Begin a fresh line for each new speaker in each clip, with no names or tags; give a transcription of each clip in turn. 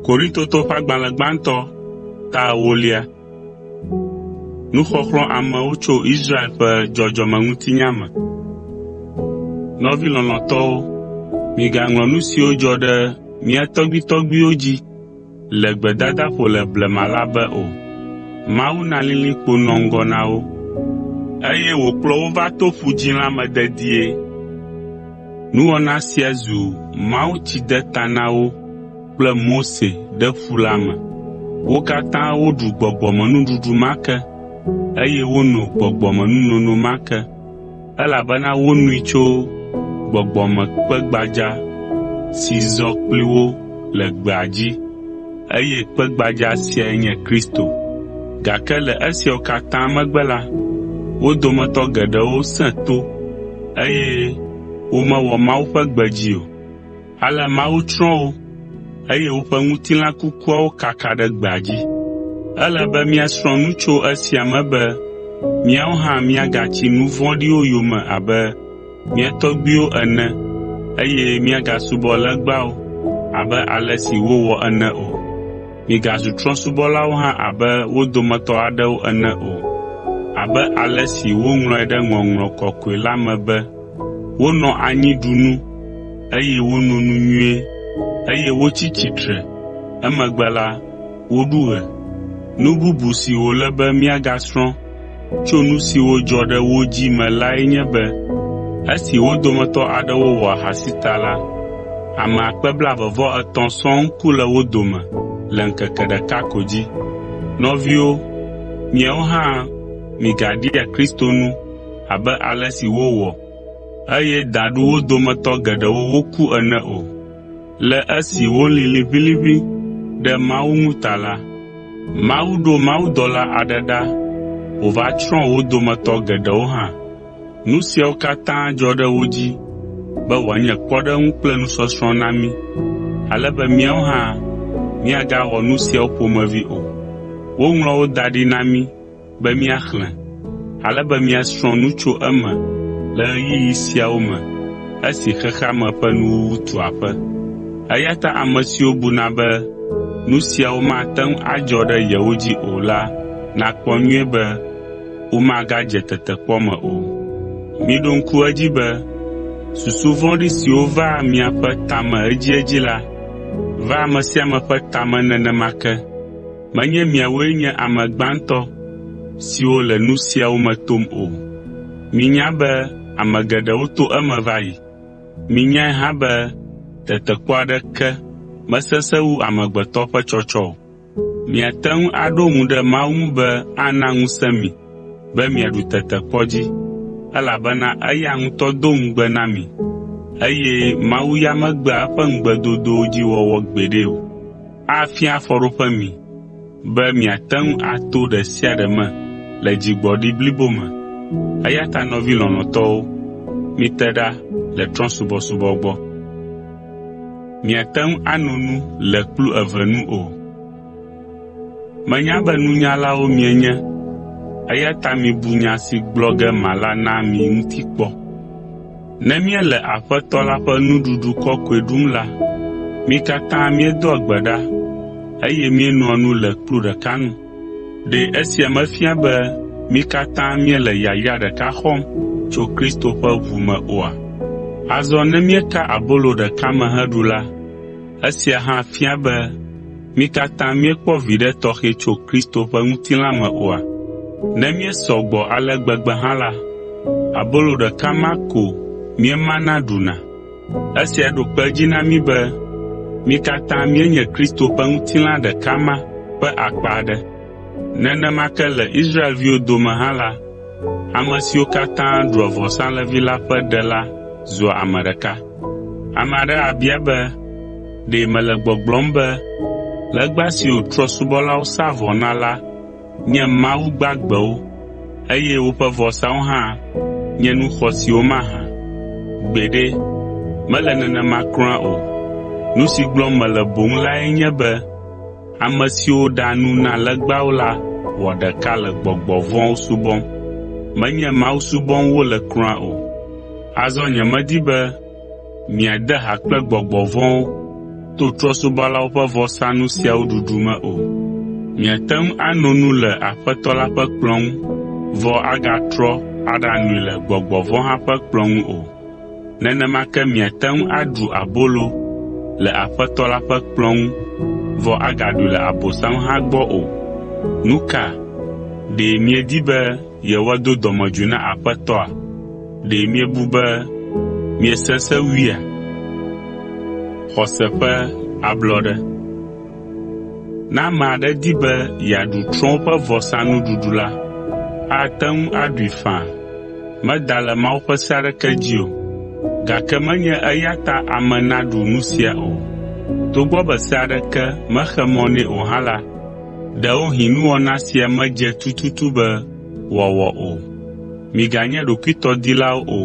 Korintoto ƒe agbalẽ gbãtɔ ta ewolia. Nuxɔxlɔ̃ amewo tso Israel ƒe dzɔdzɔmeŋutinya me. Nɔvi lɔlɔ̃tɔwo, migaŋlɔ nu siwo dzɔ ɖe mía tɔgbuitɔgbuiwo dzi le gbedadaƒo le blema la be o. Mawu na lilikpo nɔ ŋgɔ na wo, eye wòkplɔ wo va to Ƒu Dzĩ la me dedie. Nuwɔna sia zu mawutsidetananawo kple Mose ɖe ƒu la me. Wo katã woɖu gbɔgbɔmenuɖuɖu ma ke, eye wono gbɔgbɔmenunono ma ke. Elabena wonui tso gbɔgbɔ me kpe gbadza si zɔ kpli wo le gbea dzi, eye kpe gbadza siae nye Kristo. Gake le esiawo katã megbe la, wo dometɔ geɖewo sẽ to eye womewɔ Mawu ƒe gbe dzi o. Ale Mawu tsrɔ̃ wo, eye woƒe ŋutilã kukuawo kaka ɖe gbea dzi. Ele be míasrɔ̃ nu tso esia me be míawo hã míagatsi nu vɔ̃ɖiwo yome abe mía tɔgbuiwo ene eye míagasubɔ legbawo abe ale si wowɔ ene o. Migazu trɔ̃subɔlawo hã abe wo dometɔ aɖewo ene o, abe ale si woŋlɔe ɖe Ŋɔŋlɔ Kɔkɔe la me be, Wonɔ anyi ɖu nu, eye wono nu nyuie, eye wotsi tsitre. Emegbe la, woɖu ɣe. Nu bubu si wòle be míagasrɔ̃ tso nu siwo dzɔ ɖe wo dzi me lae nye be esi wo dometɔ aɖewo wɔ ahasi ta la, ame akpe blaeve-vɔ-etɔ̃ sɔŋ ku le wo dome le ŋkeke ɖeka ko dzi. Nɔviwo, miawo hã migaɖia Kristo nu. abe ale si wowɔ, eye daɖu wo dometɔ geɖewo woku ene o. Le esi wolĩ liʋĩliʋĩ ɖe Mawu ŋu ta la, Mawu ɖo mawudɔla aɖe ɖa wòva tsrɔ̃ wo dometɔ geɖewo hã. Nu siawo katã dzɔ ɖe wo dzi be wòanye kpɔɖeŋu kple nusɔsrɔ̃ na mí, ale be míawo hã míagawɔ nu siawo ƒomevi o. Woŋlɔ wo da ɖi na mí be míaxlẽ, ale be míasrɔ̃ nu tso eme le ɣeyiɣi siawo me esi xexea me ƒe nuwuwu tu aƒe. Eya ta ame siwo buna be nu siawo mate ŋu adzɔ ɖe yewo dzi o la nakpɔ nyuie be womagadze tetekpɔ me o. Miɖo ŋku edzi be susu vɔ̃ɖi siwo vaa miaƒe ta me edziedzi la vaa ame sia ame ƒe ta me nenema ke. Menye miawoe nye ame gbãtɔ siwo le nu siawo me tom o. Minya be ame geɖewo to eme va yi. Minyae hã be tetekpɔ aɖeke mesesẽ wu amegbetɔ ƒe tsɔtsɔ o. Miate ŋu aɖo ŋu ɖe Mawu ŋu be ana ŋusẽ mi be miaɖu tetekpɔ dzi, elabena eya ŋutɔ do ŋugbe na mi, eye Mawu ya megbea eƒe ŋugbedodowo dzi wɔwɔ gbeɖe o. afia afɔɖoƒe mi be miate ŋu ato ɖe sia ɖe me le dzigbɔɖi blibo me. Eya ta nɔvi lɔlɔ̃tɔwo, mite ɖa le trɔ̃subɔsubɔ gbɔ. Miate ŋu ano nu le kplu eve nu o. Menya be nunyalawo mienye, eya ta mibu nya si gblɔ ge mala na mi ŋuti kpɔ. Ne míele Aƒetɔ la ƒe nuɖuɖu kɔkɔe ɖum la, mí katã míedoa gbe ɖa, eye míenoa nu le kplu ɖeka nu. Ɖe esia mefia be mí katã míele yayra ɖeka xɔm tso Kristo ƒe ʋu me oa? Azɔ ne míeka abolo ɖeka me heɖu la, Esia hã fia be mí katã míekpɔ viɖe tɔxɛ tso Kristo ƒe ŋutilã me oa? Ne míesɔ gbɔ ale gbegbe hã la, abolo ɖeka ma ko míemana ɖuna. Esia ɖo kpe edzi na mí be mí katã míenye Kristo ƒe ŋutilã ɖeka ma ƒe akpa aɖe. Nenema ke le Israelviwo dome hã la, ame siwo katã ɖua vɔsalẽvi la ƒe ɖe la zua ame ɖeka. Ame aɖe abia be, “Ɖe mele gbɔgblɔm be legba siwo trɔ̃subɔlawo saa vɔ na la nye mawu gbagbewo eye woƒe vɔsawo hã nye nu xɔasiwo mahã? Gbeɖe, mele nenema kura o! Nu si gblɔm mele boŋ lae nye be Ame siwo ɖea nu na legbawo la wɔ ɖeka le gbɔgbɔ vɔ̃wo subɔm. Menye Mawu subɔm wole kura o. Azɔ nyemedi be miade ha kple gbɔgbɔ vɔ̃wo to trɔ̃subɔlawo ƒe vɔsanu siawo ɖuɖu me o. Miate ŋu ano nu le Aƒetɔ la ƒe kplɔ̃ ŋu vɔ agatrɔ aɖanoe le gbɔgbɔ vɔ̃ hã ƒe kplɔ̃ ŋu o. nenema ke miate ŋu aɖu abolo le Aƒetɔ la ƒe kplɔ̃ ŋu vɔ agaɖui le Abosam hã gbɔ o. Nu ka? Ɖe miedi be yewoado dɔmedzoe na Aƒetɔa? Ɖe miebu be miesesẽ wuia? Ne ame aɖe di be yeaɖu trɔ̃wo ƒe vɔsanuɖuɖu la, ate ŋu aɖui faa. Meda le Mawu ƒe se aɖeke dzi o, gake menye eya ta ame naɖu nu sia o. Togbɔ be se aɖeke mexe mɔ nɛ o hã la, ɖewohĩ nuwɔna sia medze tututu be wòawɔ o. Miganye ɖokuitɔdilawo o,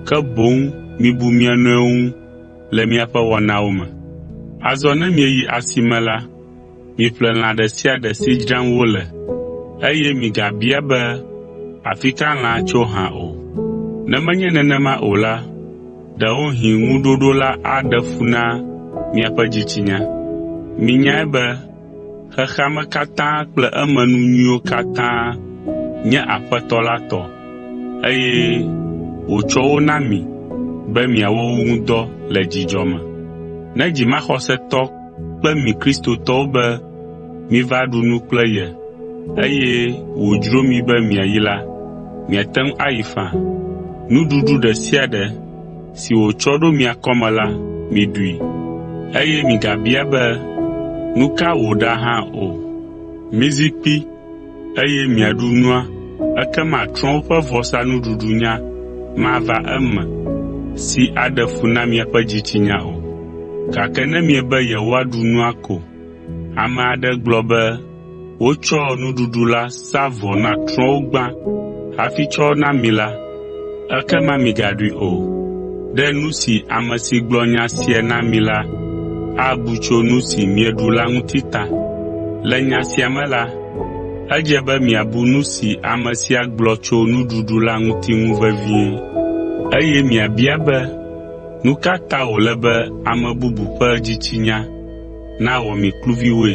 ke boŋ mibu mia nɔewo ŋu. le miaƒe wɔnawo me. Azɔ ne mieyi asime la, miƒle lã ɖe sia ɖe si dzram wole, eye migabia be, “Afi ka lãa tso hã?” o. Ne menye nenema o la, ɖewohĩ ŋuɖoɖo la aɖe fu na miaƒe dzitsinya. Minyae be Xexea me katã kple emenu nyuiwo katã nye Aƒetɔ la tɔ, eye wòtsɔ wo na mi be miawɔ wo ŋu dɔ le dzidzɔ me. Ne dzimaxɔsetɔ kpe mi Kristotɔwo be miva ɖu nu kple ye, eye wòdzro mi be miayi la, miate ŋu ayi faa. Nuɖuɖu ɖe sia ɖe si wòtsɔ ɖo mia kɔme la, miɖui, eye migabia be, ‘Nu ka wòɖa hã o?’ Mizi kpi, eye miaɖu nua, ekema trɔ̃wo ƒe vɔsanuɖuɖunya mava eme si aɖe fu na miaƒe dzitsinya o. Gake ne miebe yewoaɖu nua ko, ame aɖe gblɔ be, Wotsɔ nuɖuɖu la sa vɔ na trɔ̃wo gbã hafi tsɔ na mi la, ekema migaɖui o. Ɖe nu si ame si gblɔ nya sia na mi la abu tso nu si mieɖu la ŋuti ta. Le nya sia me la, edze be miabu nu si ame sia gblɔ tso nuɖuɖu la ŋuti ŋu vevie, eye miabia be, “Nu ka ta wòle be ame bubu ƒe dzitsinya na wɔ mi kluviwoe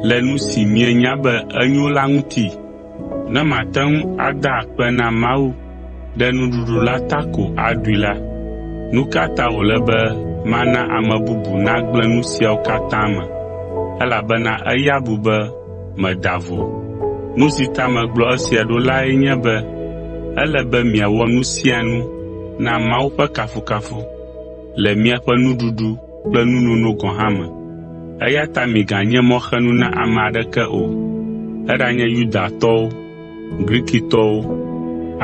le nu si mienya be enyo la ŋuti. Ne mate ŋu ada akpe na Mawu ɖe nuɖuɖu la ta ko aɖui la, nu ka ta wòle be mana ame bubu nagblẽ nu siawo katã me elabena eya bu be meda vo? Nu si ta megblɔ esia ɖo lae nye be ele be miawɔ nu sia nu na Mawu ƒe kafukafu le miaƒe nuɖuɖu kple nu nono gɔ̃ hã me. Eya ta miganye mɔxenu na ame aɖeke o, eɖanye Yudatɔwo, Grikitɔwo,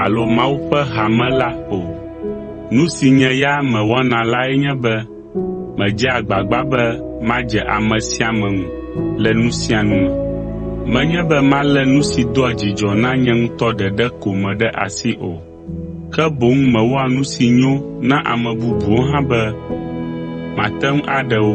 alo Mawu ƒe hame la o. Nu si nye ya mewɔna lae nye be medzea agbagba be madze ame sia ame ŋu le nu sia nu me. Menye be malé nu si doa dzidzɔ na nye ŋutɔ ɖeɖe ko me ɖe asi o, ke boŋ mewɔa nu si nyo na ame bubuwo hã be mate ŋu aɖe wo.